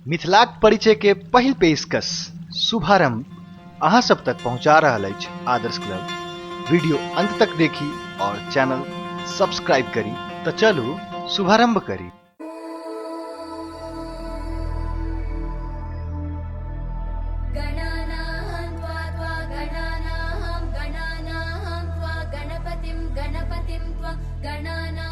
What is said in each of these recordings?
मिथिलाक परिचय के पहिल पेशकश शुभारंभ अहाँ सब तक पहुंचा रहल अछि आदर्श क्लब वीडियो अंत तक देखी और चैनल सब्सक्राइब करी तो चलू शुभारंभ करी गणानां त्वा त्वा गणानां गणानां त्वा गणपतिं गणपतिं त्वा गणानां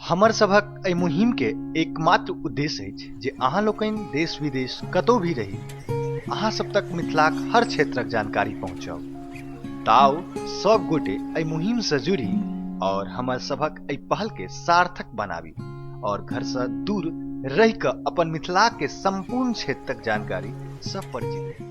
हमर सभक एहि मुहिम के एकमात्र उद्देश्य अछि जे अहाँ लोकनि देश विदेश कतौ भी रही अहाँ सब तक मिथिलाक हर क्षेत्रक जानकारी पहुँचाउ ताउ सब गोटे एहि मुहिम से जुड़ी और हमर सभक एहि पहल के सार्थक बनाबी और घर से दूर रहि कऽ अपन मिथिला के संपूर्ण क्षेत्रक जानकारी सब परिचित रही